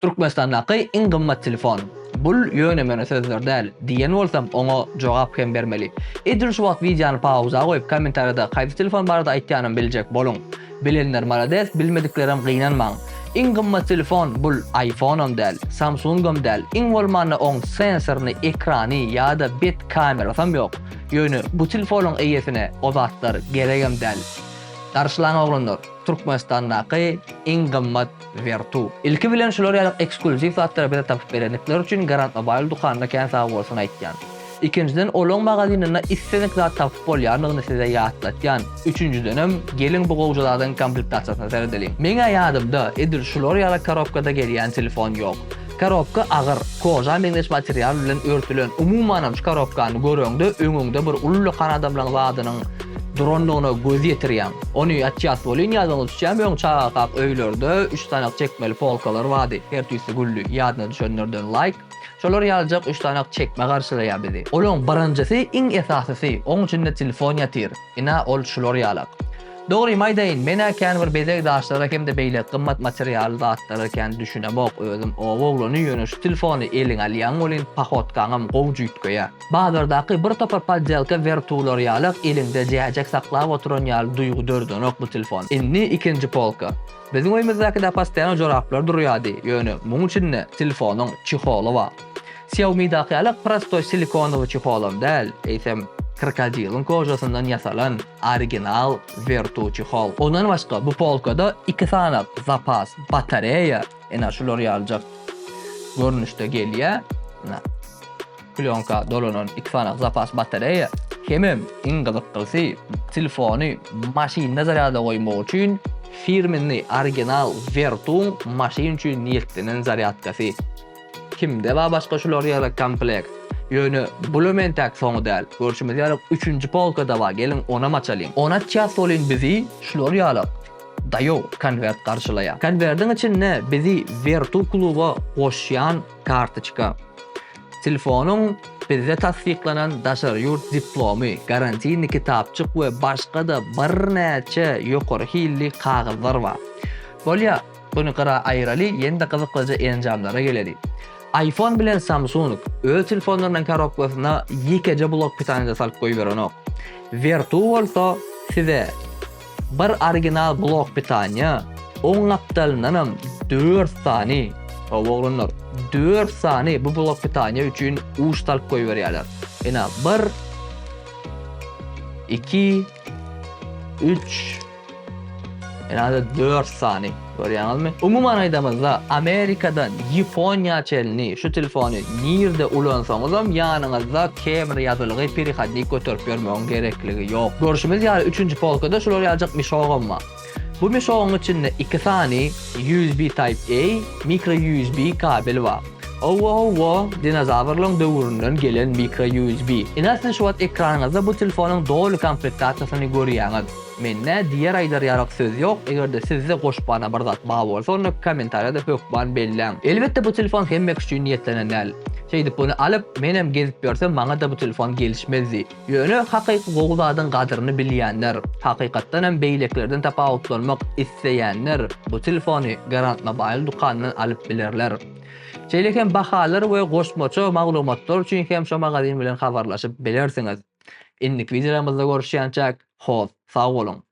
Türkmenistandaky iň gymmat telefon. Bul ýöne-möne sözler däl, diýen bolsam oňa jogap hem bermeli. Edil şu wagt wideony pauza goýup kommentariýada haýsy telefon barada aýtýanam biljek boluň. Bilenler malades bilmediklerem gynanmaň. Iň gymmat telefon bul iPhone-am däl, Samsung-am däl, iň bolmanda oň sensoryny, ekrany ýa-da bet kamerasam ýok. Ýöne bu telefonyň eýesine o zatlar geregem däl. Garşylaň oglanlar. Türkmenistandaky iň gymmat wertu. Ilki bilen şular ýaly ekskluziw zatlary bize tapyp berendikleri üçin Garant Mobile dukanyna kän sagbolsun aýtýan. Ikinjiden olaň magazininde islendik zat tapyp bolýandygyny size ýatlatýan. Üçünjidenem geliň bu gowja zadyň komplektasiýasyna seredeliň. Meň-ä ýadymda edil şular ýaly korobkada gelýän telefon ýok. Korobka agyr, koža meňzeş material bilen örtülen. Umumanam şu korobkany göreňde öňüňde bir uly lokan adamlaň zadynyň durandygyna göz ýetirýäň. Ony açýas welin ýadyňa düşýä möň çagakak öýlerde üç sanak çekmeli polkalar bardy, her tüýsi gülli, ýadyna düşenlerden laýk. Şolar ýalyjak üç sanak çekme garşylaýa bizi. Olaň birinjisi iň esasysy, oň içinde telefon ýatyr. Ina ol şular ýalak. Dogrymy aýdaýyn, men-ä kän bir bezeg daşlara hem-de beýle gymmat material zatlara kän düşünemok özüm. Oba oglany ýöne şu telefony eliňe alýaň welin pohotkaňam gowy jüýtgeýär. Bazardaky bir topar poddelka wertuwlar ýalak eliňde jäjek saklap oturan ýaly duýgy dördenok bu telefon. Indi ikinji polka. Biziň öýmüzdäki-de postoýan joraplar durýardy, ýöne muň içinde telefonyň çeholy bar. Xiaomi-daky ýaly prostoý silikonowy çeholam däl, eýsem, krokodilyň kožasyndan ýasalan original wertu çehol. Ondan başga bu polkada iki sany zapas batareýa ene şular ýaljak görnüşde gelýär. Plýonka dolanan iki sany zapas batareýa hemem iň gyzykdysy telefony maşynda zarýada goýmak üçin firmenli original Vertuň maşyn üçin niýetlenen zarýadkasy. Kimde bar başga şular ýaly komplekt? Ýöne bulam entäk soňy däl. Görşümiz ýaly üçünji polkada bar geliň onam açalyň. On açýas welin bizi şular ýaly daýow konwert garşylaýar. Konwerdiň içinde bizi Vertu kluba goşýan Kartoçka. Telefonyň bizde tassyklanan daşary ýurt diplomy, garantini kitapjyk we başga-da birnäçe ýokary hilli kagyzlar bar. Bolýa, buny gyra aýyraly, ýene-de gyzyklyja enjamlara geleli. Aýfon bilen Samsung öz telefonlarynyň korobkasyna ýekeje blok pytanyda salyp goýberenok. Vertu bolsa size. Bir original blok pitanya, oň gapdalyndanam dört sany, hawa oglanlar, dört sany bu blok pitanya üçin uç salyp goýberýärler. Ine, bir, iki, üç, ine, dört sany. Görýäňizmi? Umuman aýdamyzda, Amerikadan Ýaponiýa çenli şu telefony nirde ulansaňyzam, ýanyňyzda kemri ýazylgy perehodnik göterip ýörmegiň gerekligi ýok. Görşümiz ýaly, üçünji polkada şular ýaljak mişogam bar. Bu mişogyň içinde iki sany USB Type-A, mikro USB kabel bar. Owo-owo, dinozawrlaryň döwründen gelen mikro USB. Ine, siz şu wagt ekranyňyzda bu telefonyň doly komplektasiýasyny görýäňiz. Mende diýer aýdar ýarak söz ýok, egerde sizde goşbana bir zat bar bolsa onda kommentariýada hökman belläň. Elbetde bu telefon hemmek üçin niýetlenen däl. Şeýdip buny alyp menem gezip ýörsem maňada bu telefon gelişmezdi. Ýöne hakyky gowy zadyň gadyryny bilýänler, hakykatdanam beýlekilerden tapawutlanmak isleýänler bu telefony Garantmobile dükanyndan alyp bilerler. Şeýle hem bahalar we goşmaça maglumatlar üçin hem şu magazyn bilen habarlaşyp bilersiňiz. Indiki wideolarymyzda görüşýänçäk, hoss, sag boluň!